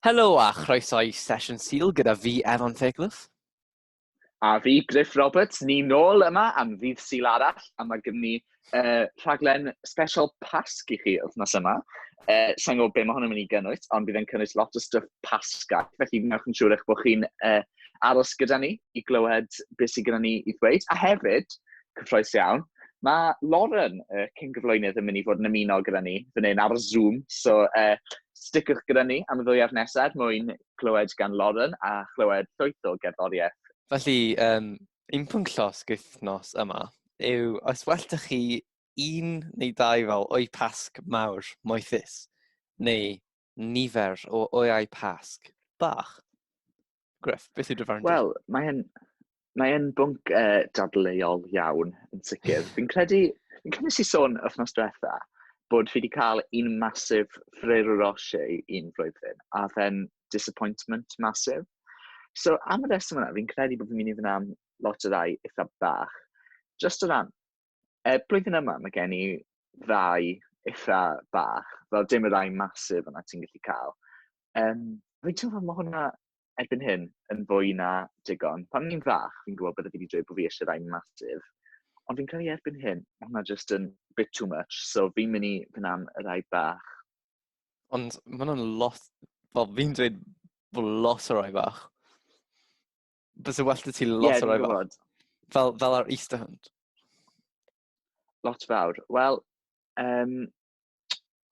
Helo a chroeso i sesiwn Sul gyda fi, Evan Fairclough. A fi, Griff Roberts, ni nôl yma am ddydd Sul arall, a mae gen ni uh, rhaglen special Pasg i chi wythnos yma. Uh, Sa'n gwybod beth mae hwnna'n mynd i gynnwys, ond bydd e'n cynnwys lot o stuff Pasga, felly newch yn siŵr eich bod chi'n uh, aros gyda ni i glywed beth sydd gyda ni i ddweud. A hefyd, Cyffroes iawn. Mae Lauren, y uh, cyn gyflwynydd, yn mynd i fod yn ymuno gyda ni fan hyn ar y Zoom. So, uh, sticwch gyda ni am y ddwyaf nesaf er mwyn clywed gan Lauren a chlywed llwyth o gerddoriaeth. Felly, um, un pwnc llosg wythnos yma yw os well da chi un neu dau fel o'i pasg mawr moethus neu nifer o oeau Pasg bach. Griff, beth yw dy farn di? Wel, mae'n mae e'n bwnc uh, dadleuol iawn, yn sicr. Fi'n credu, fi'n credu nes i sôn wythnos diwetha, bod fi wedi cael un masif Ferrero Rocher un flwyddyn, a fe'n disappointment masif. So, am y reswm yna, fi'n credu bod fi'n mynd i fyna am lot o rai eitha bach. Just o ran, E, blwyddyn yma, mae gen i ddau eitha bach, fel dim y ddau masif yna ti'n gallu cael. Um, fi'n teimlo fod mae hwnna erbyn hyn yn fwy na digon. Pan ni'n fach, fi'n gwybod bod wedi dweud bod fi eisiau ddau masif, ond fi'n credu erbyn hyn, mae hwnna just yn bit too much, so fi'n mynd i fynd am y ddau bach. Ond mae hwnna'n lot, fel fi'n dweud bod lot o rai bach. Bysa well da ti lot yeah, o roi fel, fel, fel ar Easter hunt. Lot fawr. Wel, um,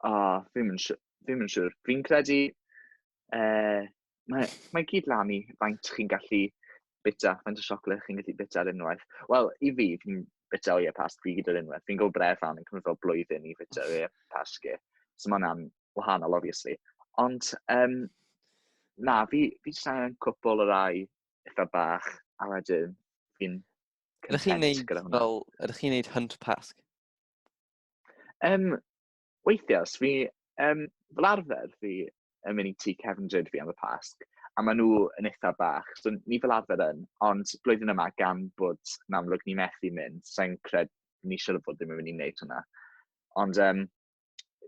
o, oh, fi'n mynd siwr. Fi'n credu, uh, mae, mae gyd lan i faint chi'n gallu bita, faint o siocled chi'n gallu bita ar unwaith. Wel, i fi, fi'n bita o ie pas pryd ar unwaith. Fi'n gwybod bref fan yn cymryd fel blwyddyn i bita o ie pas ge. So mae'n am wahanol obviously. Ond um, na, fi, fi jyst angen cwpl o rai eitha bach, a wedyn fi'n Ydych chi'n neud fel, ydych chi'n neud hunt pasg? Um, weithiau, os fi, um, fel arfer fi yn mynd i ti Kevin Dryd fi am y pasg, a maen nhw yn eitha bach, so ni fel arfer yn, ond blwyddyn yma gan bod yn amlwg ni methu mynd, sa'n cred, ni siwr bod ddim yn mynd i wneud hwnna. Ond um,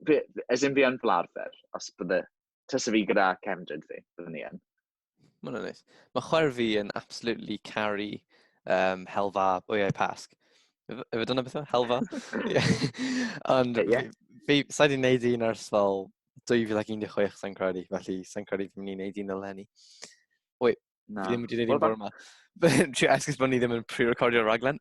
fi, as in fi yn fel arfer, os bydde, tys fi gyda cefndryd fi, byddwn ni yn. Mae'n anodd. Mae chwer fi yn absolutely carry um, helfa bwyau pasg. Efe dyna beth yw? Helfa? Ond yeah. fi, sa'i di wneud un ers fel 2016 sa'n credu, felly sa'n credu fi'n mynd i wneud un eleni. Wait, na. fi ddim wedi wneud un bore yma. Trio esgus bod ni ddim yn pre-recordio raglen.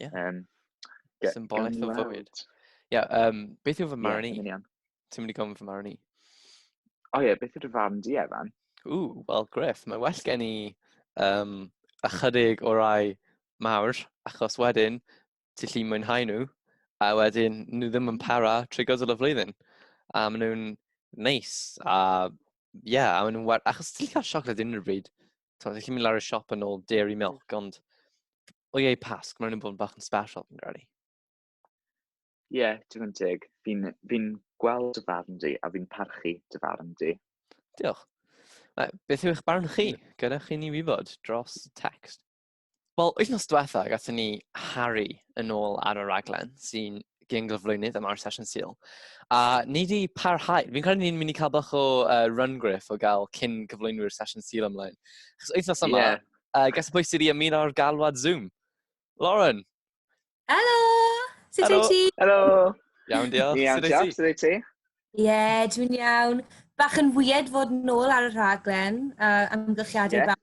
Ie. Um, Symbolaeth o fywyd. Ie, yeah, um, beth yw fy marn i? Yeah, Ti'n mynd i gofyn fy marn i? O ie, beth yw dy farn di, Evan? O, wel, Griff, mae well gen i um, ychydig o rai mawr, achos wedyn, ti'n lli mwynhau nhw, a wedyn, nhw ddim yn para trwy gydol y flwyddyn. A maen nhw'n neis, a ie, yeah, a maen nhw'n... Achos ti'n lli cael siocled unrhyw bryd, Ti'n gallu mynd lawr y siop yn ôl dairy milk, ond o iei pasg, mae'n rhywun bod yn bach yn special, fi'n gwneud. Ie, yeah, digon teg. Fi'n fi gweld dy farn di, a fi'n parchu dy farn di. Diolch. Beth yw eich barn chi? Gyda chi ni wybod dros text. Wel, wythnos diwetha, gatho ni Harry yn ôl ar y raglen, sy'n gyn-gyflwynydd am ar Sesiwn Sil. A ni wedi parhau, fi'n credu ni'n mynd i cael bach o uh, run griff o gael cyn cyflwynwyr Sesiwn Sil ymlaen. Chos wythnos yma, yeah. uh, gas y pwys i ni ar galwad Zoom. Lauren! Helo! Sut wyt ti? Helo! Iawn, diolch. Iawn, diolch. Sut wyt ti? Ie, dwi'n iawn. Bach yn wyed fod nôl ar y rhaglen, uh, amgylchiadau yeah. bach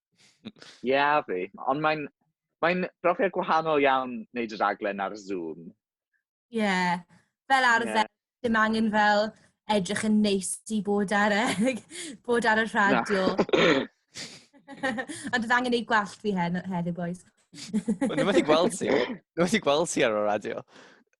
Ie, yeah, fi. Ond mae'n mae brofiad gwahanol iawn wneud y raglen ar Zoom. Ie. Yeah. Fel arfer, yeah. dim angen fel edrych yn neis i bod ar, y, bod ar y radio. Ond oedd angen ei gwallt fi hen, heddiw, boys. Nhw wedi gweld ti. Nhw wedi gweld ti ar y radio.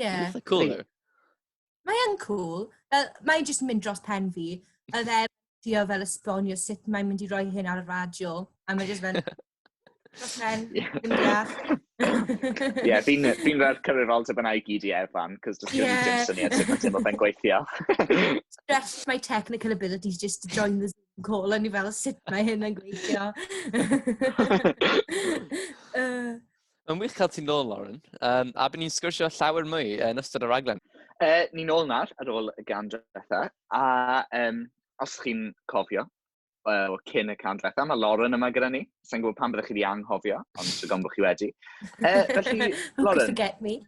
Ie. Eitha cŵl yw. Mae yn cŵl. Fel, mae jyst yn mynd dros pen fi. Oedd e trio fel esbonio sut mae'n mynd i roi hyn ar y radio. A mae jyst fel... Dros pen, ddim yn deall. Ie, fi'n fi fel cyfrifoldeb yna i gyd i Evan, cos does gen i Ie. dim syniad sut mae teimlo fe'n gweithio. Stress my technical abilities just to join the Zoom call. O'n i fel, sut mae hyn yn gweithio? Yy, Mae'n wych cael ti'n nôl, Lauren. Um, a byd ni'n sgwrsio llawer mwy yn ystod y raglen. E, ni'n ôl nawr ar ôl y gan diwetha. A um, os chi'n cofio, uh, cyn y can diwetha, mae Lauren yma gyda ni. Sa'n gwybod pan byddwch chi wedi anghofio, ond sy'n gofyn bod chi wedi. E, felly, Lauren... forget me.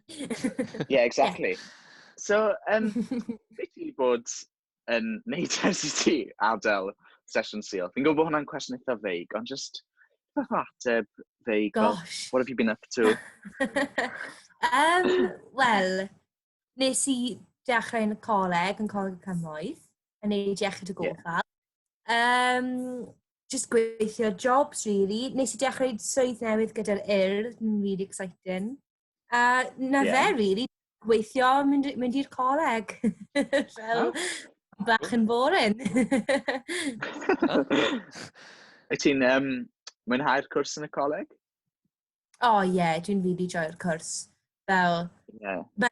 yeah, exactly. Yeah. So, um, beth i bod yn neud ers i ti adael sesiwn syl? Fi'n gwybod bod hwnna'n cwestiwn eitha feig, ond just beth o ateb feig, Gosh. what have you been up to? um, Wel, nes i dechrau yn y coleg, yn coleg y cymoedd, yn neud iechyd y gofal. Yeah. Um, just gweithio jobs, really. Nes i dechrau swydd newydd gyda'r UR, yn really exciting. A na yeah. fe, really, gweithio, mynd, mynd i'r coleg. Fel oh. bach yn boring. Wyt ti'n um, mwynhau'r cwrs yn y coleg? O oh, ie, yeah, dwi'n rili joio'r cwrs. Fel, yeah.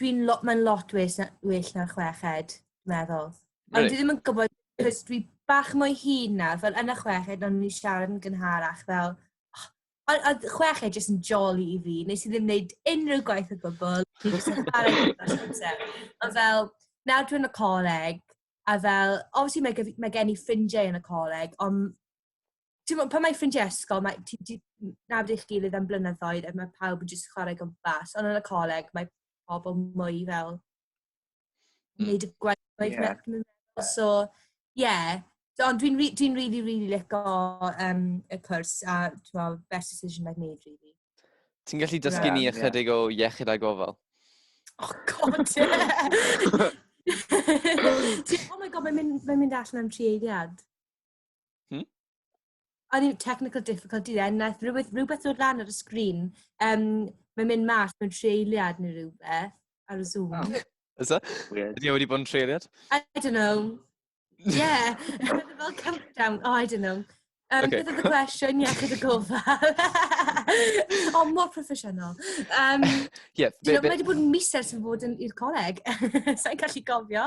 dwi'n lo, mae'n lot well na, well na chweched, meddwl. Ond dwi ddim yn gwybod, cwrs dwi bach mwy hun nawr, fel yn y chweched, ond ni'n siarad yn gynharach, fel, oh, Ond oedd chweched jyst yn joli i fi. Wnes i ddim wneud unrhyw gwaith o gwbl. Fi jyst yn chwarae gyda'r amser. Ond fel, nawr dwi yn y coleg, a fel, obviously mae gef- mae gen i ffrindiau yn y coleg, ond timod, pan mae ffrindiau ysgol, mae ti ti nabod eich gilydd am blynyddoedd a mae pawb yn jyst chwarae gwmpas, ond yn y coleg mae pobl mwy fel wneud y gwaith gwaith yeah. Ie. meddwl. So, ie. Yeah. Ond dwi'n dwi, dwi really, really lico um, y cwrs a twa, best decision I've made, really. Ti'n gallu dysgu ni ychydig o iechyd a gofal? Oh, god, yeah. oh my god, mae'n mynd, mae mynd allan am tri eiliad. Hmm? I think technical difficulty there, naeth rhywbeth, rhywbeth dod lan ar y sgrin. Um, mae'n mynd mas mewn treiliad neu rhywbeth ar y Zoom. Oh. Is that? Weird. Ydy e wedi bod yn treiliad? I don't know. Yeah, fel countdown. Oh, I don't know. Um, okay. Beth oedd y cwestiwn iechyd y gofal? o, oh, mor proffesiynol. Um, yeah, be, be... Mae wedi bod yn miser sy'n fod i'r coleg. Sa'n gallu gofio.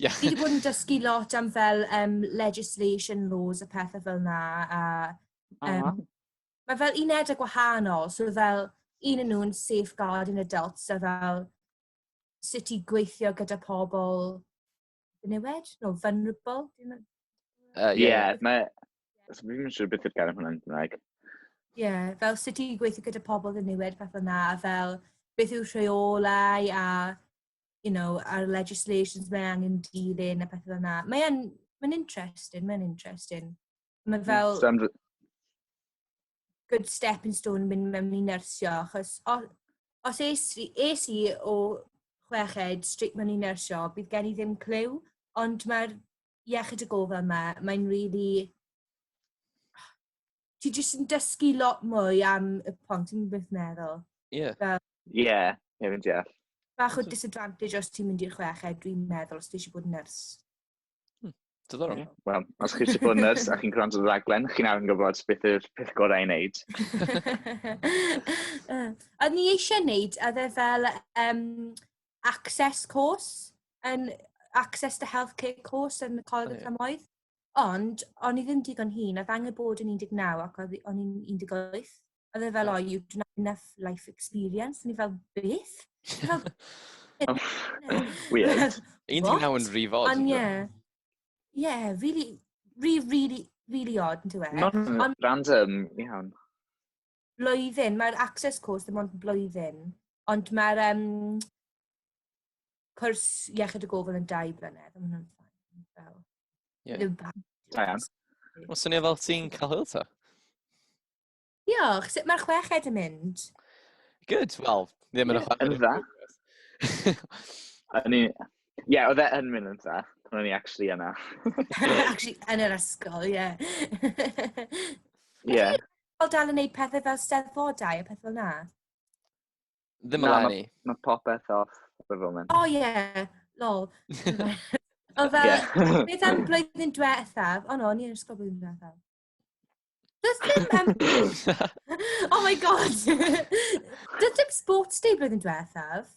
Yeah. Fi wedi bod yn dysgu lot am fel um, legislation laws a pethau fel na. A, um, uh -huh. Mae fel un edrych gwahanol, so fel un yn nhw'n safeguarding adults a fel sut i gweithio gyda pobl newid, no, vulnerable. Uh, yeah, mae... So, fi'n siŵr beth yw'r gair hwnna yn Gymraeg. Ie, yeah, fel sut i gweithio gyda pobl yn newid, fath o'na, a fel beth yw rheolau a you know, ar legislations mae angen dilyn a pethau yna. Mae'n ma interesting, mae'n interesting. Mae mm, fel... Stand... Good stepping stone mynd mewn i nersio, achos os, os es, es i o chweched strict mewn i nersio, bydd gen i ddim clyw, ond mae'r iechyd y gofal yma, mae'n really... ti jyst yn dysgu lot mwy am y pont, ti'n beth meddwl? Ie. Yeah. Fel... yeah, ie, fi'n deall. Bach o disadvantage os ti'n mynd i'r chweched, dwi'n meddwl, os ti eisiau bod yn nyrs. Hmm. Diddorol. Yeah. Wel, os chi eisiau bod yn nyrs a chi'n gwrando ar raglen, chi'n awr yn gwybod beth yw'r peth gorau i wneud. a ni eisiau wneud, a dde fel um, access course, and access to healthcare course yn y Coleg oh, yeah. Camoedd. Ond o'n i ddim digon hŷn, oedd angen bod yn 19 ac oedd o'n i'n 18. Oedd e fel, oh, you don't have enough life experience. O'n i fel, beth? Weird. 19 yn rhy fod. Ond ie. Ie, really, really, really odd, yn dweud. Mae'n random iawn. blwyddyn, mae'r access course ddim ond blwyddyn, ond mae'r um, cwrs iechyd y gofal yn dau blynedd, ond hwnna'n ffain. Fel, yeah. ddim pa. Da iawn. Mae'n swnio fel ti'n cael hwyl ta? Diolch, sut mae'r chweched yn mynd? Good, wel, ddim yn y chweched. Yn dda. O'n i... Ie, oedd e yn mynd yn dda. O'n i actually yna. actually yn yr ysgol, ie. Ie. Pobl dal yn neud pethau fel steddfodau a pethau fel na? Ddim yn lani. Mae ma popeth off for the moment. O oh, ie, yeah. lol. o fel, yeah. beth am blwyddyn diwethaf? O oh, no, ni'n ysgol blwyddyn diwethaf. Does dim... Um... oh my god! Does dim sports day blwyddyn diwethaf?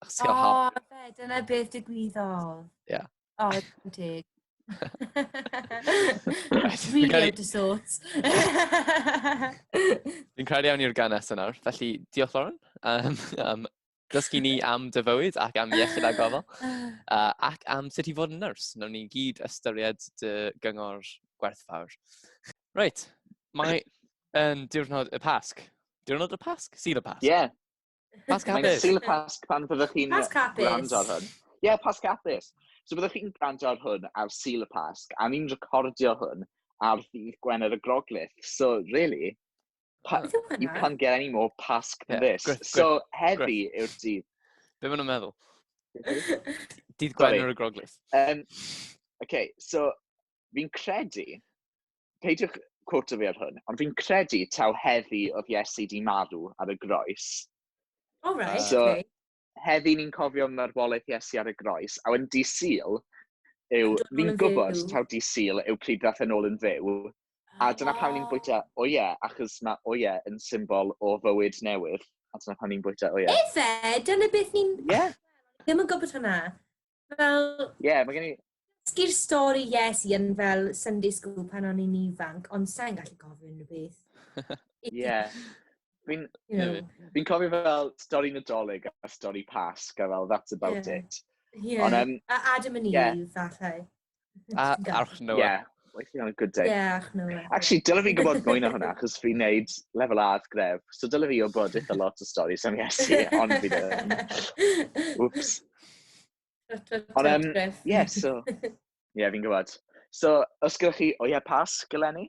Achos ti'n cael O, haf. fe, dyna beth digwyddodd. Ie. O, yn teg. Reit, fi'n Really credu- out of sorts. Fi'n credu iawn i'r gan nesaf nawr. Felly, diolch Lauren am, am dysgu ni am dy fywyd ac am iechyd a gofal. Uh, ac am sut i fod yn nyrs. Nawn ni gyd ystyried dy gyngor gwerthfawr. Reit, mae yn diwrnod y Pasg. Diwrnod y Pasg? Sydd y Pasg? Ie. Pasg Mae'n hapus. sil y Pasg pan fyddwch chi'n Pasg hapus. gwrando ar hwn. Ie, yeah, Pasg hapus. So byddwch chi'n gwrando ar hwn ar sil y Pasg, a ni'n recordio hwn ar ddydd Gwener y Groglith. So, really, pa, Beth yw hwnna? you can't get any more Pasg than Ie, this. gwir- gwir- So, heddi yw'r dydd. Be maen nhw'n meddwl? Dydd Sorry. Gwener y Groglith. Um, okay, so, fi'n credu peidiwch cwrto fi ar hwn, ond fi'n credu taw heddi oedd Iesu di marw ar y groes. O, oh, right, so, okay. Heddi ni'n cofio marwolaeth Iesu ar y groes, a wedyn di syl, yw, fi'n gwybod taw di syl yw pryd ddath yn ôl yn fyw, a dyna oh. pan ni'n bwyta o ie, achos mae o ie yn symbol o fywyd newydd, a dyna pan ni'n bwyta o ie. Efe, dyna beth ni'n... Ie. Yeah. Ddim yn gwybod hwnna. Fel... Ie, yeah, mae gen i... Sgir stori, yes, i yn fel Sunday School pan o'n i'n ifanc, ond sa'n gallu gofyn unrhyw beth. Ie. Fi'n fi cofio fel stori Nadolig a stori Pasg, a fel, that's about yeah. it. Yeah. Ond, um, a Adam and Eve, yeah. falle. A arch nhw. Ie, waithio on a good day. Ie, arch nhw. Actually, dylai fi gwybod mwy na hwnna, achos fi'n neud lefel A at gref. So dylai fi gwybod eitha lot o stori sy'n iesu, ond fi ddim. Whoops. Ond, um, yeah, so... Ie, yeah, fi'n gwybod. So, os gyda chi, o ie, pas, gylenni?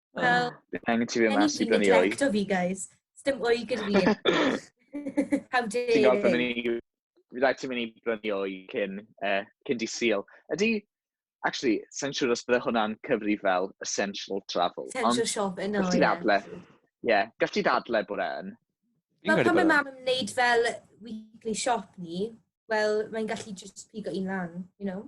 Wel, angen ti fi yma, sy'n dyn i oed. fi, guys. Sdim oed gyda fi. How dare you. Ti'n gweld pan ni... Fi ddaeth ti'n mynd i brynu o'i cyn, uh, cyn di seal. Ydy, actually, sa'n siŵr os bydde hwnna'n cyfri fel essential travel. Essential shop yn oed. Gallti ddadle. Ie, gallti ti ddadle bod e'n. Wel, pan mae mam yn wneud fel weekly shop ni, wel, mae'n gallu just pigo un lan, you know?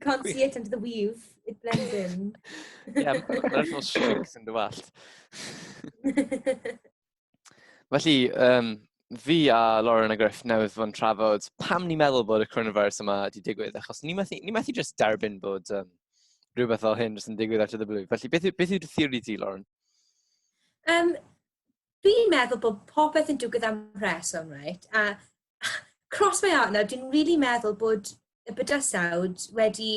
Can't see it under the weave. It blends in. yeah, mae'n fel shrinks yn dy wallt. Felly, um, fi a Lauren a Griff newydd fod yn trafod pam ni'n meddwl bod y coronavirus yma wedi digwydd, achos ni methu, ni methu just derbyn bod um, rhywbeth fel hyn jyst yn digwydd at y blwydd. Felly, beth, beth yw dy theori di, Lauren? Um, fi'n meddwl bod popeth yn digwydd am rheswm, right? A cross my heart nawr, dwi'n rili really meddwl bod y bydysawd wedi...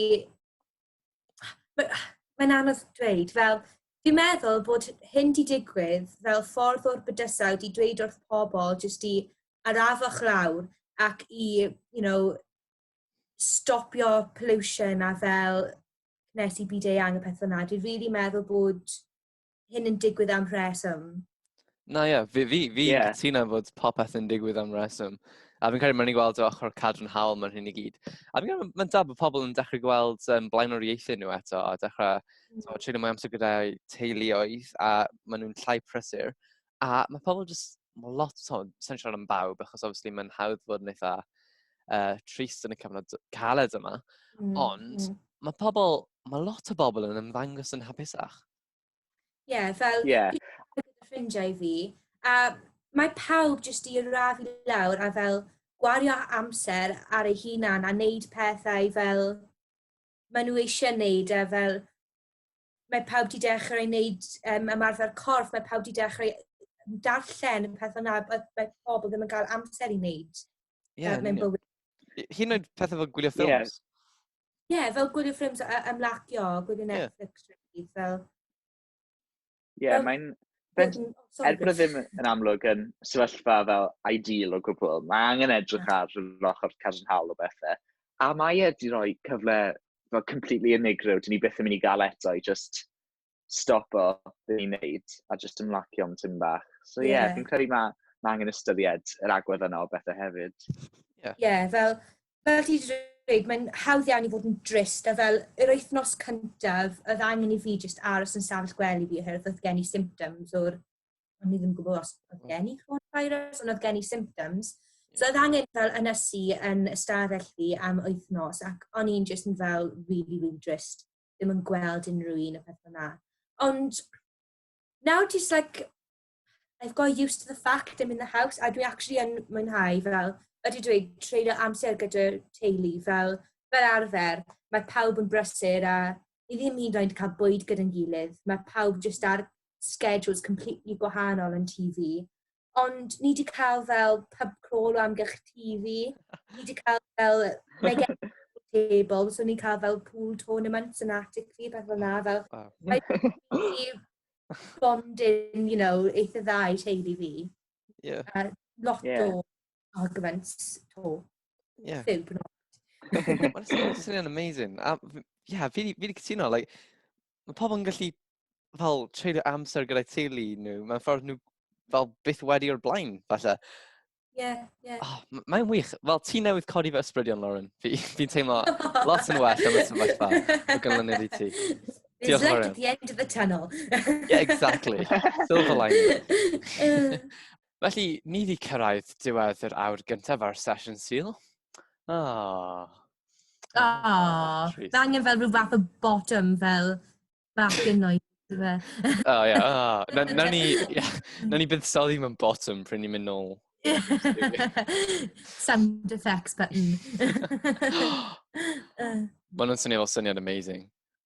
Mae'n ma anodd dweud, fel, dwi'n meddwl bod hyn wedi digwydd fel ffordd o'r bydysawd i dweud wrth pobl jyst i arafoch lawr ac i, you know, stopio pollution a fel nes i byd eang a pethau yna. Dwi'n rili really meddwl bod hyn yn digwydd am rheswm. Na ie, fi, fi, fi yeah. cytuno fod popeth yn digwydd am reswm. A fi'n credu mae'n ni'n gweld o ochr cadw'n hawl mae'n hyn i gyd. A fi'n credu mae'n da bod pobl yn dechrau gweld um, blaenoriaethau nhw eto a dechrau mm. treulio mwy amser gyda'i teuluoedd a maen nhw'n llai prysur. a mae pobl jyst, mae lot, so, sa'n siarad am bawb, achos obviously mae'n hawdd fod yn eitha uh, trist yn y cyfnod caled yma, mm, ond mm. mae pobl, mae lot o bobl yn ymddangos yn hapusach. Ie, yeah, fel yeah. ffrindiau fi, a mae pawb jyst i radd i lawr a fel gwario amser ar ei hunan a wneud pethau fel maen nhw eisiau wneud a fel mae pawb 'di dechrau wneud yym ymarfer corff, mae pawb 'di dechrau darllen yn pethau na oedd mae pobl ddim yn cael amser i wneud yeah, uh, mewn bywyd. Hyn oed pethau fel gwylio ffilms. Ie, yeah. yeah, fel gwylio ffilms a ymlacio, gwylio Netflix, yeah. fel... Ie, yeah, mae'n... Er bod e ddim yn amlwg yn sefyllfa fel ideal o gwbl, mae angen edrych ar yr ochr cadarnhaol o bethau. A mae e wedi rhoi cyfle fel completely unigryw, dyn ni beth yn mynd i gael eto i just stop o dyn ni'n neud a just ymlacio am tyn bach. So ie, yeah, yeah. fi'n credu mae ma angen ystyried yr agwedd yna o bethau hefyd. Ie, yeah. yeah, fel, fel ti wedi dweud, mae'n hawdd iawn i fod yn drist, a fel yr wythnos cyntaf, oedd angen i fi just aros yn safell gwely fi, oherwydd oedd gen i symptoms o'r o'n i ddim yn gwybod os oedd hmm. gen i coronavirus, ond oedd gen i symptoms. So oedd angen fel ynysu yn ystafell fi am wythnos ac o'n i'n just yn fel really, really drist. Ddim yn gweld unrhyw un y peth yna. Ond now just like, I've got used to the fact I'm in the house a dwi actually yn mwynhau fel, ydy dwi treulio amser gyda teulu fel, fel arfer. Mae pawb yn brysur a ni ddim hyd yn oed yn ca'l bwyd gyda'n gilydd, ma' pawb jyst ar schedules completely gwahanol yn tŷ fi. Ond ni 'di ca'l fel pub crawl o amgylch tŷ fi. Ni 'di ca'l fel mae gen table so ni'n ca'l fel pool tournaments yn atig fi pethe fel 'na fel... Waw. ...mae rili bonding you know eitha dda i teulu fi. Ie. A lot o... Ie. argument to. Ie. Byw bwyd. Mae'n swnio'n amazing. A, f- ie, yeah, fi wedi cytuno, like, mae pobl yn gallu fel treulio amser gyda'i teulu nhw, mae'n ffordd nhw fel byth wedi o'r blaen, falle. Ie, ie. Oh, mae'n wych. Fel ti newydd codi fy ysbrydion, Lauren. Fi'n fi, fi teimlo lot yn well am y sefyllfa o ganlyniad i ti. There's Diolch light at the end of the tunnel. yeah, exactly. Silver lining. Felly, ni fi cyrraedd diwedd yr awr gyntaf ar sesiwn syl. O. Oh. O, oh, mae angen fel rhyw fath o bottom fel bach yn oed. O, ie. Ah, na ni, na ni bydd sali mewn bottom pryn ni'n mynd nôl. Sound effects button. Mae nhw'n swnio fel syniad amazing.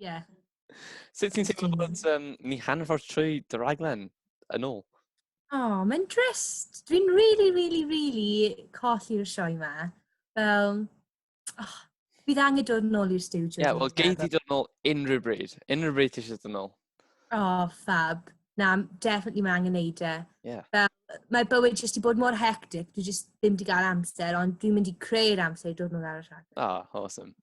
Ie. Yeah. Sut ti'n teimlo bod um, ni hanfawr trwy dy raglen yn ôl? O, oh, mae'n drist. Dwi'n really, really, really colli'r sioe ma. Fel, oh, bydd angen dod yn ôl i'r studio. Ie, yeah, wel, gei di dod yn ôl unrhyw bryd. Unrhyw bryd ti eisiau dod yn ôl. O, oh, fab. na, definitely mae angen neud e. Yeah. Fel, mae bywyd jyst i bod mor hectic, dwi jyst ddim di gael amser, ond dwi'n mynd i creu'r amser i dod nôl ar y rhaglen. Ah, oh, awesome.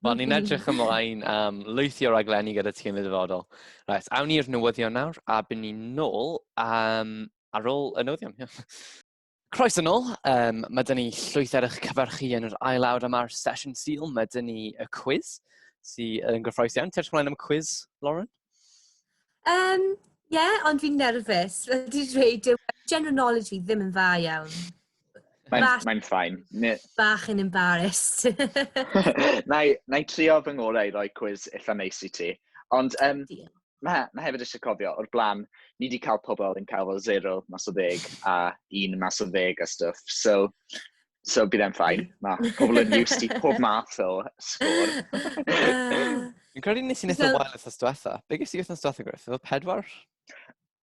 Wel, ni'n edrych ymlaen am um, lwythio raglenni gyda ti yn y dyfodol. Right, awn ni'r newyddion nawr, a byn ni'n nôl um, ar ôl y newyddion. Croeso nôl, um, mae dyn ni llwyth ar eich cyfarchu yn yr ail awr yma'r sesiwn syl, mae dyn ni y cwiz sydd yn gyffroes iawn. Ti'n ymlaen am y cwiz, Lauren? Um, Ie, yeah, ond fi'n nerfus. Wedi dweud, yw general knowledge fi ddim yn dda iawn. Mae'n mae ffain. Bach yn embarrassed. na, i, na i trio fy ngorau i roi cwiz eitha neis i ti. Ond um, mae ma hefyd eisiau cofio, o'r blaen, ni wedi cael pobl yn cael fel 0 mas o ddeg a un mas o ddeg a stuff. So, so bydd e'n ffain. Mae pobl yn used i pob math o sgôr. Fi'n credu nes i'n eitha wael wythnos diwetha. Be ges i wythnos diwetha, Griff? Efo pedwar?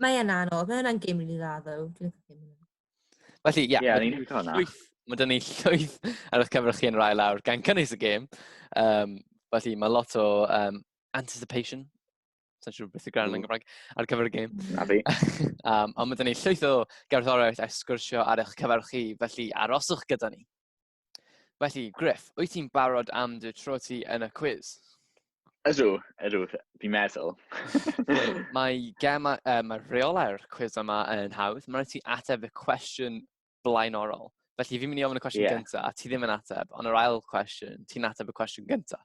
Mae yna anodd, mae yna'n gym rili dda ddo. Felly, ie. Yeah, yeah, ni'n hwnna. Mae dyn ni llwyth ar eich cyfer chi yn rai lawr gan cynnwys y gêm. Um, felly, mae lot o um, anticipation sa'n siŵr beth y gran yn Gymraeg, ar gyfer y gêm. Na fi. um, ond mae dyn ni llwyth o gerddoriaeth a sgwrsio ar eich cyfer chi, felly aroswch gyda ni. Felly, Griff, wyt ti'n barod am dy tro ti yn y cwiz? Ydw, ydw, fi'n meddwl. mae gem, uh, mae rheolau'r cwiz yma yn hawdd. Mae'n rhaid ti ateb y cwestiwn blaenorol. Felly fi'n mynd i ofyn y cwestiwn yeah. gyntaf, a ti ddim yn ateb, ond yr ail cwestiwn, ti'n ateb y cwestiwn gyntaf.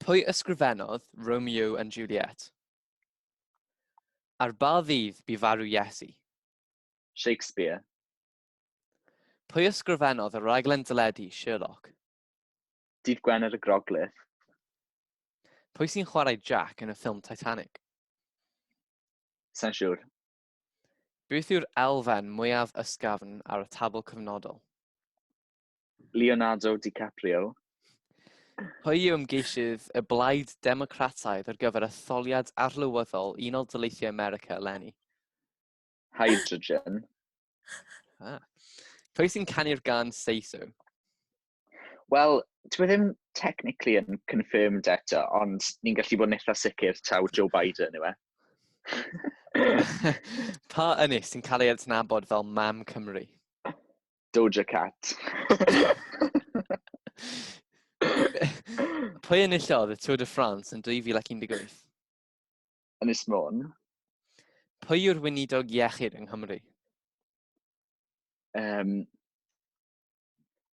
Pwy ysgrifennodd Romeo and Juliet? Ar ba ddydd bu farw Iesu? Shakespeare. Pwy ysgrifennodd y rhaglen deledu Sherlock? Dydd Gwener y Groglith. Pwy sy'n chwarae Jack yn y ffilm Titanic? Sa'n siŵr. Beth yw'r elfen mwyaf ysgafn ar y tabl cyfnodol? Leonardo DiCaprio. Pwy yw ymgeisydd y Blaid Democrataidd ar gyfer etholiad arlywyddol Unol Daleithiau America, Lenny? Hydrogen. Ah. Pwy sy'n canu'r gan Say So? Wel, dwi e ddim technically yn confirmed eto, ond ni'n gallu bod yn eitha sicr taw Joe Biden yw e. pa ynys sy'n cael ei adnabod fel Mam Cymru? Doja Cat. Pwy enillodd y Tour de France yn 2018? Ynys Môn. Pwy yw'r weinidog iechyd yng Nghymru? Um,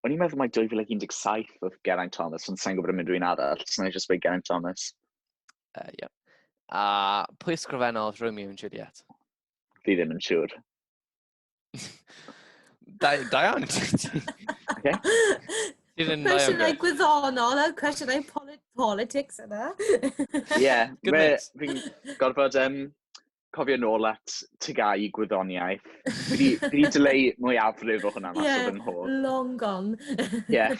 o'n i'n meddwl mae 2017 oedd Geraint Thomas, ond sa'n gwybod am unrhyw un arall, so na i just Geraint Thomas. Uh, yeah. A pwy ysgrifennodd Romeo and Juliet? Fi ddim yn siŵr. Da, da iawn. okay. Cwestiynau gwyddonol a cwestiynau polit politics yna. Ie, fi'n gorfod um, cofio nôl at tygau i gwyddoniaeth. Fi wedi dyleu mwy afrif o hwnna mas yeah, o fy nghof. long gone. yeah.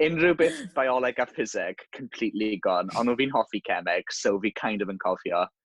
Unrhyw beth bioleg a ffiseg, completely gone. Ond fi'n hoffi cemeg, so fi kind of yn cofio.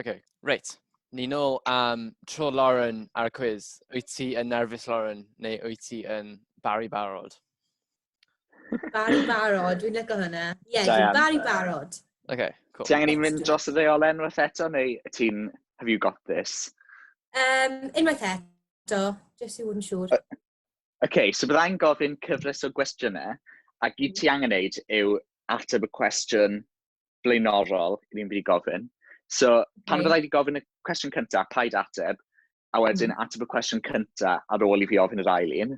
Okay. Reit. Ni nôl am tro Lauren ar y cwiz. Wyt ti yn nerfus, Lauren, neu wyt ti yn bari barod? Bari barod, dwi'n lygo hynna. Ie, yeah, dwi'n bari barod. Okay, cool. Ti angen i mynd dros y ddeolen wrth eto, neu ti'n, have you got this? Um, unwaith eto, jyst i fod yn siŵr. Uh, okay, so byddai'n gofyn cyfres o gwestiynau, a gyd ti angen neud yw ateb y cwestiwn blaenorol i fi'n mynd i gofyn. So, pan fydda i wedi gofyn y cwestiwn cyntaf, paid ateb, a wedyn mm. ateb y cwestiwn cyntaf ar ôl i fi ofyn yr ail un.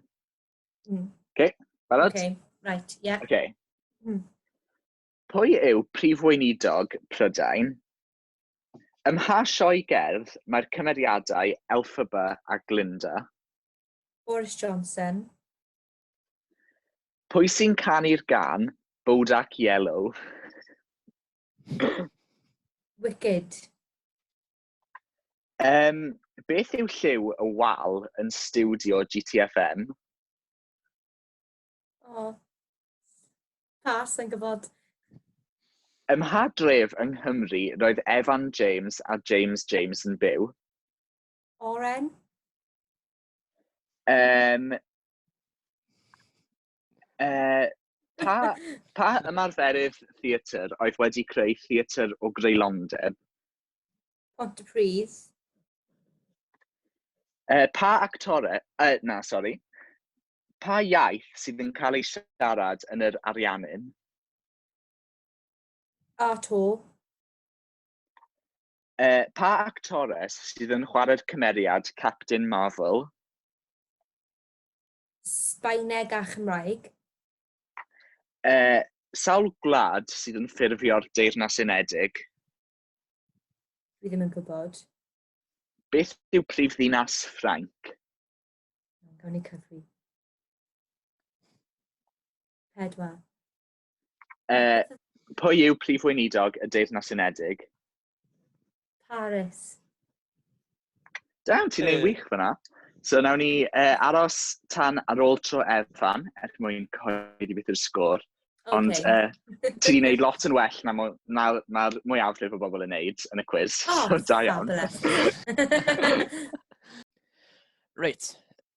Mm. Okay, barod? Okay, right, yeah. Okay. Mm. Pwy yw prif weinidog Prydain? Ym mha sioe gerdd mae'r cymeriadau Elphaba a Glinda? Boris Johnson. Pwy sy'n canu'r gan Bodak Yellow? Wicked. Um, beth yw lliw y wal yn studio GTFM? O, oh. pas yn gwybod. Ym mha dref yng Nghymru roedd Evan James a James James yn byw? Oren. Um, uh, pa, pa ymarferydd theatr oedd wedi creu theatr o greulondeb? Pont y Pridd. Uh, pa actore, uh, na, sori, pa iaith sydd yn cael ei siarad yn yr Ariannin? A to. Uh, pa actores sydd yn chwarae'r cymeriad Captain Marvel? Sbaeneg a Chymraeg. Uh, sawl gwlad sydd yn ffurfio'r Deyrnas Unedig? Dwi ddim yn gwybod. Beth yw prif ddinas Ffrainc? Gawn ni cyfri. Pedwar. Uh, pwy yw prif weinidog y Deyrnas Unedig? Paris. Da, ti'n ei wych fyna. So nawn ni uh, aros tan ar ôl tro Efan er mwyn cyhoeddi beth yw'r sgôr. Okay. Ond uh, ti'n gwneud lot yn well na mae'r ma, ma mwyafrif o bobl yn neud yn y cwiz. Oh, so, da iawn. Reit,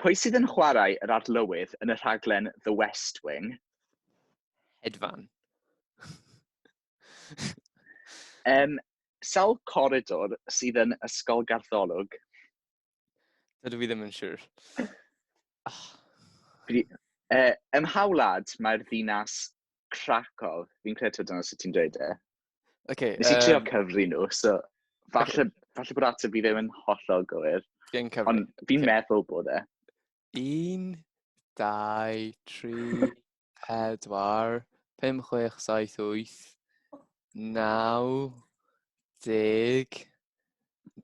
Pwy sydd yn chwarae yr arlywydd yn y rhaglen The West Wing? Hedfan. um, sawl coridor sydd yn Ysgol Gartholwg? Dydw i ddim yn siŵr. Oh. Uh, ym mhawlad mae'r ddinas Krakow? Fi'n credu dyna sut ti'n dweud e. Okay, Nes i trio cyfri nhw, so falle, falle bod ateb i ddim yn hollol gywir. Gen cyfri. Ond fi'n okay. meddwl bod e. Un, dau, tri, pedwar, pum, chwech, saith, wyth, naw, deg,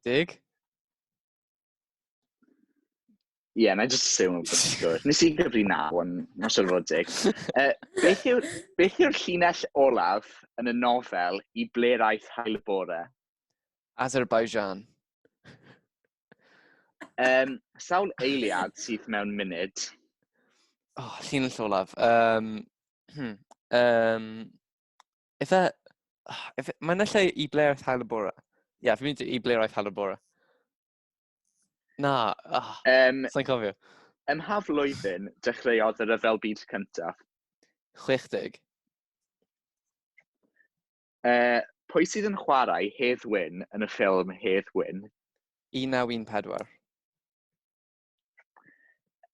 deg? Ie, yeah, na i just assume bod ti'n siwr. Nes i gyfri na, ond na siwr fod dig. Uh, beth yw'r yw llinell olaf yn y nofel i ble raeth hael y bore? Azerbaijan. Um, sawl eiliad sydd mewn munud? Oh, llinell olaf. Um, hmm, um, Ife... Ife... Mae yna lle i ble aeth Hywel bore? Ie, yeah, fi'n mynd i ble aeth Hywel bore. Na, oh, um, sa'n cofio. Ym ha flwyddyn dechreuodd y rhyfel byd cyntaf? 60. Uh, pwy sydd yn chwarae Hedd Wyn yn y ffilm Hedd Wyn? 1914.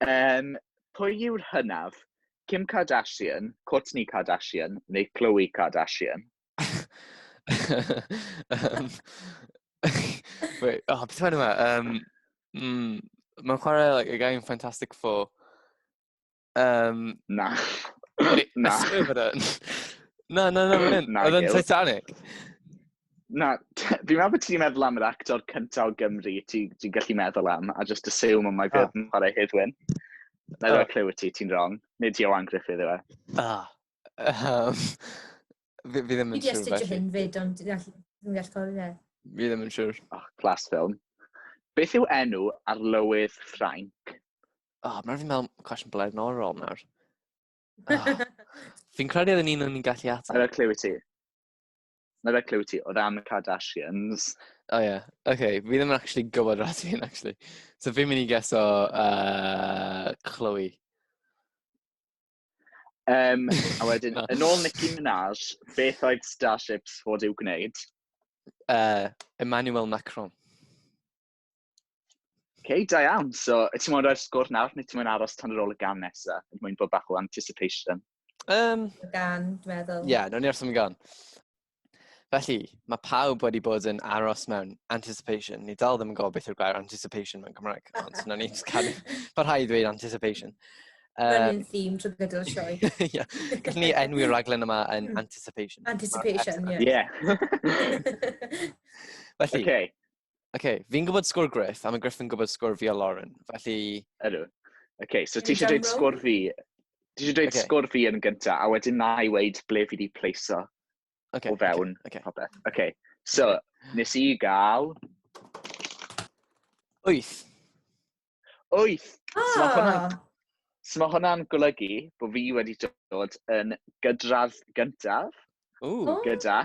Yym, pwy yw'r hynaf? Kim Kardashian, Kourtney Kardashian neu Khloe Kardashian? um, wait, oh, beth yma? Um, mm, Mae'n chwarae like, y gain Fantastic Four. Um, na. na. na, na, na, mae'n hyn. Oedd yn Titanic. Na, fi'n meddwl bod ti'n meddwl am yr actor cyntaf o Gymru ti'n ti gallu meddwl am, a just assume ond mae fe yn chwarae Hydwyn. Na ddod clyw ti, ti'n wrong. Nid Johan Griffith yw e. Ah. Um, fi, fi ddim yn siŵr. Fi di astudio hyn fyd, ond dwi'n gallu cofio fe. Fi ddim yn siŵr. Oh, class film. Beth yw enw ar lywydd Ffrainc? O, mae'n rhaid i fi meddwl cwestiwn blaenorol nawr. Oh. Fi'n credu oedd un o'n i'n gallu ateb. Mae'n rhaid clyw i ti. Mae'n rhaid clyw i ti o ran y Kardashians. O oh, ie. Yeah. Oce, okay. fi ddim yn actually gwybod rhaid i hyn, actually. So fi'n mynd i geso uh, Chloe. Um, a wedyn, yn ôl Nicki Minaj, beth oedd Starships fod i'w gwneud? Uh, Emmanuel Macron. okay, da iawn. So, y ti'n mwyn rhoi'r sgwr nawr, neu ti'n mwyn aros tan yr ôl y gan nesaf? Yn mwyn bod bach o anticipation. Um, gan, dwi'n meddwl. Ie, yeah, nawn ni wrth am gan. Felly, mae pawb wedi bod yn aros mewn anticipation. Ni dal ddim yn gofio beth yw'r gair anticipation mewn Cymraeg, ond nawn ni cadw parhau ddweud anticipation. Um, Mae'n un theme trwy gydol y sioe. Ie, gallwn ni enwi'r raglen yma yn hmm. anticipation. Anticipation, ie. Yeah. Felly, okay. Oce, okay, fi'n gwybod sgwr Griff, a mae Griff yn gwybod sgwr fi a Lauren, felly... Ydw. Oce, okay, so ti eisiau dweud sgwr fi... Ti eisiau dweud okay. sgwr fi yn gyntaf, a wedyn na i weid ble fi wedi pleiso okay, o fewn okay, okay. Oce, okay. so okay. nes i gael... Wyth. Wyth! Ah. So mae hwnna'n So mae hwnna'n golygu bod fi wedi dod yn gydradd gyntaf. Ooh. Oh. Gyda.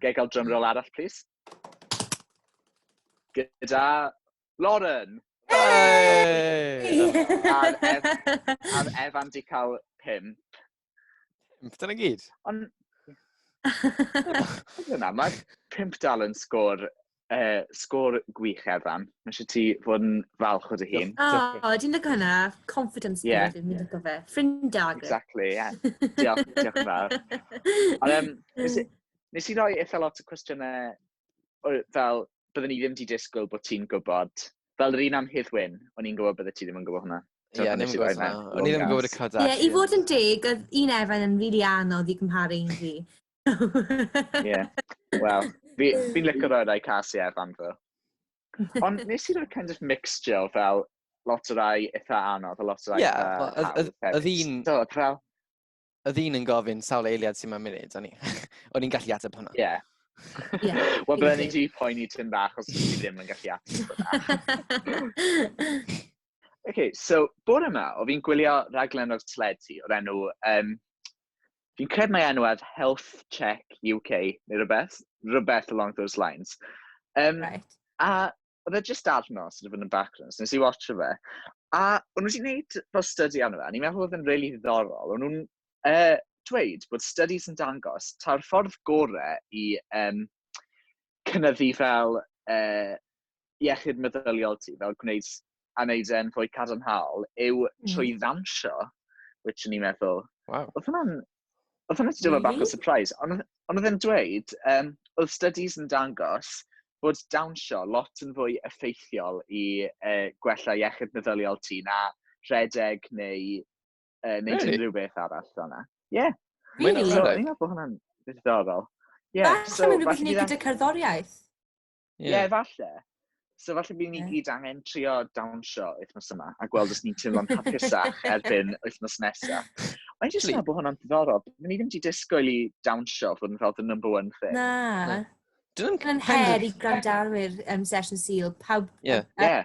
Gael cael drum roll arall, please. Gyda Lauren. Hey! A'r Evan di cael pimp. Pimp, dyna gyd. Ond... Dyna, mae pimp dal yn sgôr, uh, sgôr gwych Evan. Mae eisiau ti fod yn falch o dy hun. O, oh, dwi'n lygo hynna. Confidence yeah. yeah. dwi'n lygo fe. Ffrindag. Exactly, ie. Yeah. Diolch, diolch yn fawr. Ond, um, nes i roi eitha lot o cwestiynau fel, byddwn i ddim wedi disgwyl bod ti'n gwybod, fel yr un am Hedd Wyn, o'n i'n gwybod bydde ti ddim yn gwybod hwnna. Ie, yeah, ddim yn gwybod hwnna. O'n i ddim yn gwybod y Kardashians. Ie, yeah, i fod yn deg, oedd un Efain yn rili anodd i gymharu un fi. Ie, wel, fi'n licio roi rai cas i Efain fo. Ond nes i roi'r kind of mixture fel lot o rai eitha anodd, a lot o rai eitha hawdd. Ie, oedd un... Y ddyn yn gofyn sawl eiliad sy'n ma'n munud, o'n i'n gallu ateb hwnna. Ie. Yeah. Yeah, Wel, bydden ni wedi poeni tyn bach os ti ddim yn gallu ateb hwnna. okay, so, bore yma, o fi'n gwylio raglen o'r tledi o'r enw, um, fi'n cred mae enw ef Health Check UK, neu rhywbeth, rhywbeth along those lines. Um, right. A oedd e jyst arno, sort of yn y background, so nes i watch fe. A o'n nhw wedi gwneud fel study arno fe, a ni'n meddwl oedd e'n really ddiddorol. O'n nhw'n uh, dweud bod studies yn dangos ta'r ffordd gore i um, cynyddu fel uh, iechyd meddyliol ti, fel gwneud a wneud e'n fwy cadarnhaol yw mm. trwy ddansio, which o'n i'n meddwl, wow. oedd hwnna'n oedd hwnna'n dod bach o surprise, ond oedd e'n dweud, um, oedd studies yn dangos bod dawnsio lot yn fwy effeithiol i uh, gwella iechyd meddyliol ti na rhedeg neu, uh, neu really? unrhyw beth arall yna. Ie. Yeah. Really? So, ni'n meddwl bod hwnna'n ddiddorol. Yeah, Falle so, mynd rhywbeth i wneud gyda cerddoriaeth. Ie, yeah. falle. So falle bydd ni yeah. gyd angen trio dawnsio wythnos yma a gweld os ni'n teimlo'n hapusach erbyn wythnos nesaf. Mae'n jyst meddwl bod hwnna'n ddiddorol. Ni ddim wedi disgwyl i dawnsio fod yn fel the number one thing. Na. Dwi'n her i gwrandawyr um, session seal. Pawb... Yeah. Uh, yeah.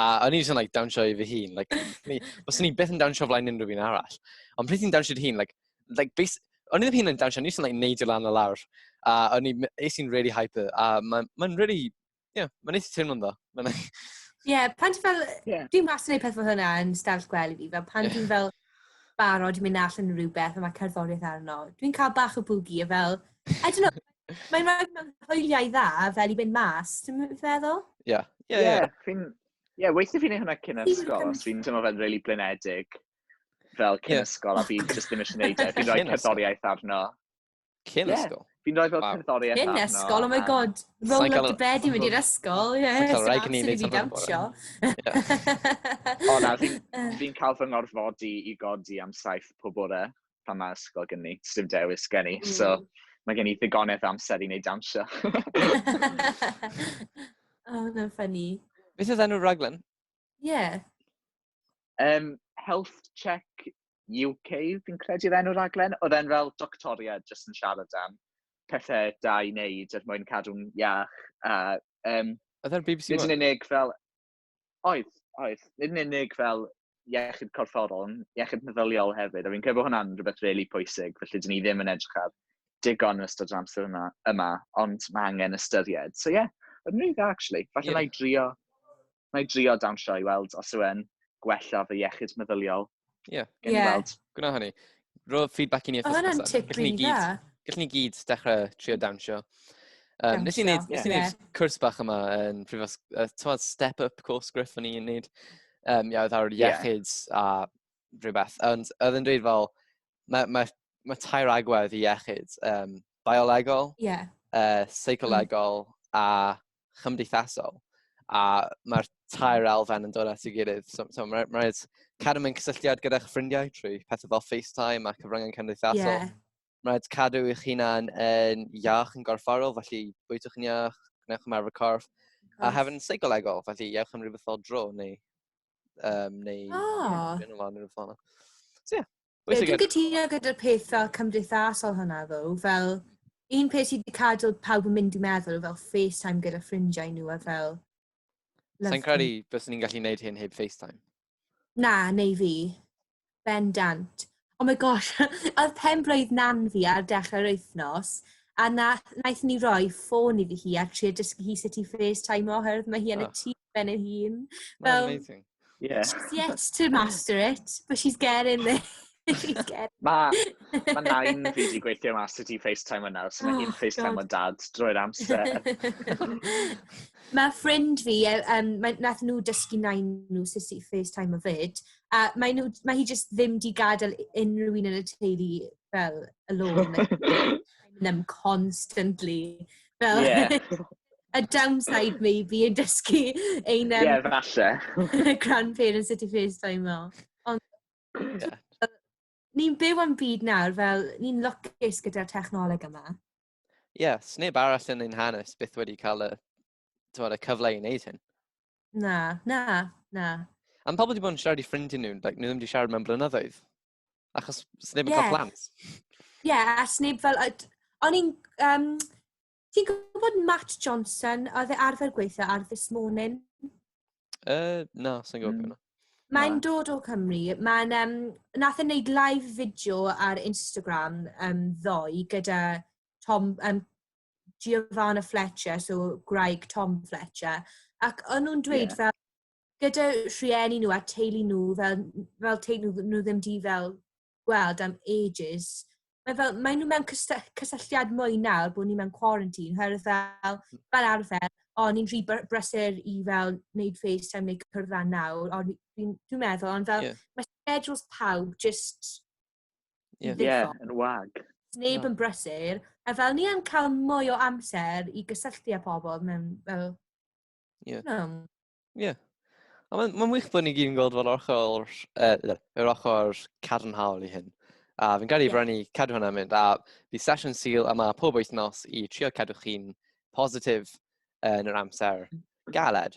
A o'n i jyst yn like, dawnsio i fy hun. Like, ni, os o'n i beth yn dawnsio flaen unrhyw un arall. Ond pryd ti'n dawnsio dy hun, like, like, base, o'n i ddim hun yn dawnsio, o'n i jyst yn like, neud i lan o lawr. A o'n i, eis i'n really hyper. A mae'n ma really, yeah, mae'n eithaf teimlo'n dda. Ie, like... yeah, pan ti'n fel, yeah. dwi'n mas yn ei peth fel hynna yn stafell gwely fi, fel pan yeah. dwi'n fel barod i mynd all yn rhywbeth a mae cerddoriaeth arno, dwi'n cael bach o bwgi a fel, I don't know, Mae'n rhaid mewn hwyliau dda fel i fynd mas, ti'n feddwl? Ie. Yeah. Ie, yeah, yeah. fi'n... Ie, yeah, weithio fi'n ei hwnna cyn ysgol, ond fi'n teimlo fe'n really blinedig fel cyn yeah. ysgol, a fi'n just ddim eisiau gwneud e. Fi'n rhoi cerddoriaeth arno. Cyn yeah. ysgol? Fi'n rhoi fel wow. cerddoriaeth arno. Cyn ysgol, oh my god. Roll up to bed i mynd i'r ysgol, ie. Yeah, so rai gynnu i fi dawnsio. O na, fi'n fi cael fy ngorfodi i godi am saith pob bore. pan mae ysgol gen i, sy'n dewis gen i. Mm. So, mae gen i ddigonedd amser i wneud dawnsio. oh, mae'n ffynnu. Beth oedd enw'r raglen? Ie. Yeah. Um, health Check UK, fi'n credu oedd enw'r raglen. Oedd e'n fel doctoriad jyst yn siarad am pethau da i wneud er mwyn cadw'n iach. A, um, oedd e'n BBC One? Nid yn unig fel... Oedd, oedd. Nid yn unig fel iechyd corfforol, ond iechyd meddyliol hefyd, a fi'n credu bod hwnna'n rhywbeth rili really pwysig, felly dyn ni ddim yn edrych ar digon yn ystod yr amser yma, yma ond mae angen ystyried. So ie, yeah, yn rili dda, actually. Falle yeah. na i drio, na i drio dawnsio i weld os yw'n gwella fy iechyd meddyliol. Ie, gen i weld. Gwna hynny. Rho feedback i ni wrth ysgrifennu. Oedd hwnna'n tip dda. Gallwn ni gyd dechrau trio dawnsio. Um, nes i wneud, nes i wneud cwrs bach yma yn prifos, uh, tywed, step up course griff o'n i'n wneud. Um, ia, oedd ar iechyd yeah. a rhywbeth. Ond oedd yn dweud fel, mae, mae, mae tair agwedd i iechyd. Um, biolegol, yeah. uh, seicolegol mm. a chymdeithasol. A mae'r tair elfen yn dod at ei gilydd. So, so mae'n ma rhaid cadw mewn cysylltiad gyda'ch ffrindiau trwy pethau fel FaceTime a cyfryngau cymdeithasol. Yeah. Mae'n rhaid cadw eich hunan yn iach yn gorfforol, felly bwytwch yn iach, gwnewch ymarfer corff. A hefyd yn seicolegol, felly iewch am rhywbeth fel dro neu Um, neu... Oh. Yn y lan yn y ffona. So, yeah. Ie, dwi'n gytuno gyda'r peth fel cymdeithasol hwnna, ddo, fel un peth sydd wedi cadw pawb yn mynd i meddwl fel FaceTime gyda ffrindiau nhw a fel... Sa'n credu bys ni'n gallu gwneud hyn heb FaceTime? Na, neu fi. Bendant. Oh my gosh, oedd pen-blwydd nan fi ar dechrau'r wythnos, a na, naeth ni roi ffôn iddi hi a trio dysgu hi sut i FaceTime oherwydd mae hi yn y tŷ ben ei hun. Fel, amazing. Yeah. She's yet to master it, but she's getting there. she's getting... Mae ma nain fi wedi gweithio mas sut i FaceTime yna, so mae hi'n oh, FaceTime o dad drwy'r amser. mae ffrind fi, um, e, nath nhw dysgu nain nhw sut i FaceTime o fyd, A maen nhw... mae hi jyst ddim 'di gadael u- unrhyw un yn y teulu fel alone like ma' nhw constantly fel... ie ...y downside maybe yn dysgu ein yym... ie falle ...grandparents sut i Facetimo ond ie ni'n byw yn byd nawr fel ni'n lwcus gyda'r technoleg yma. Ie, 'sneb arall yn ein hanes byth wedi cael y tywed, y cyfle i wneud hyn. Na, na, na. Am pobl wedi bod yn siarad i ffrindiau nhw, like, nhw ddim wedi siarad mewn blynyddoedd. Achos sneb yn yeah. cael plant. Ie, yeah, a sneb fel... O'n i'n... Um, Ti'n gwybod Matt Johnson, oedd e arfer gweithio ar This Morning? Uh, na, sy'n gwybod mm. Mae'n dod o Cymru. Mae'n, um, nath yn e neud live fideo ar Instagram um, ddoe gyda Tom, um, Giovanna Fletcher, so gwraig Tom Fletcher, ac o'n nhw'n dweud yeah. fel, gyda rhieni nhw a teulu nhw, fel, fel teulu nhw, nhw ddim di fel gweld am ages, mae fel, mae nhw mewn cysylltiad mwy nawr bod ni mewn quarantine, oherwydd fel, fel arfer, o, ni'n rhy brysur i fel wneud FaceTime neu cyrraedd nawr, ond dwi'n meddwl, ond fel, yeah. mae schedules pawb just Ie, yeah, yn wag. Neb yn brysur. A fel ni yn cael mwy o amser i gysylltu â pobl mewn fel... Ie. Yeah. Um. Yeah. A mae'n ma wych bod ni gyd yn gweld fel ochr, uh, yr ochr cadarnhaol i hyn. A fi'n gael ei yeah. brynu cadw hwnna'n mynd. A fi sesiwn syl yma pob wythnos i trio cadw chi'n positif yn yr amser mm. galed.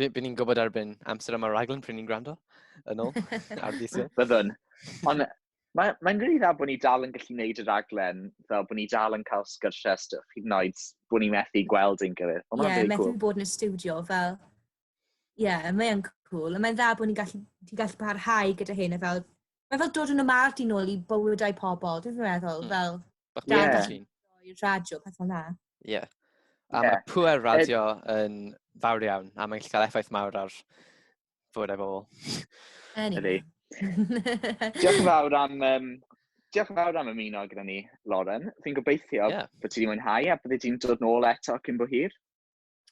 By, by ni'n gwybod erbyn amser yma raglen pryd ni'n gwrando yn ôl ar ddisil. Byddwn. Ond mae'n mae rili dda bod ni dal yn gallu gwneud y raglen, fel bod ni dal yn cael sgyrsiau stwff, hyd yn oed bod ni'n methu gweld ein gilydd. Ie, yeah, methu cool. bod yn y studio, fel... Ie, yeah, mae'n cool. Mae'n dda bod ni'n gallu, gallu parhau gyda hyn, a fel Mae fel dod yn ymar di nôl i bywydau pobl, dwi'n meddwl, mm. fel... Bach yeah. bach ti'n. I'r radio, pethau na. Ie. Yeah. A yeah. mae pwer radio yn fawr iawn, a mae'n gallu cael effaith mawr ar bywydau bobl. Ydy. Diolch yn fawr am... Um, diolch yn fawr am ymuno gyda ni, Lauren. Fi'n gobeithio yeah. bod ti wedi mwynhau a bydde ti'n dod nôl eto cyn bo hir.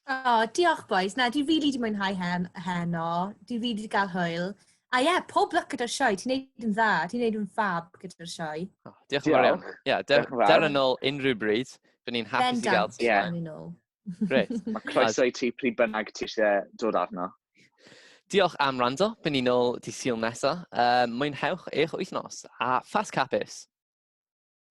O, diolch bois. Na, dwi rili 'di mwynhau hen- heno. Dwi rili 'di gael hwyl. A ie, yeah, pob lwc gyda'r sioe. Ti'n neud yn dda. Ti'n neud yn fab gyda'r sioe. Oh, diolch yn fawr iawn. Diolch. Ie, der, Diolch yn fawr. der yn ôl unrhyw bryd. By'n ni'n hapus i gael Bendant, ti. Ie. yeah. ni nôl. Gret. Mae croeso i ti pryd bynnag ti eisiau dod arno. Diolch am rando. By'n ni'n ôl di syl nesa. Um, mwynhewch eich wythnos. A ffas capus.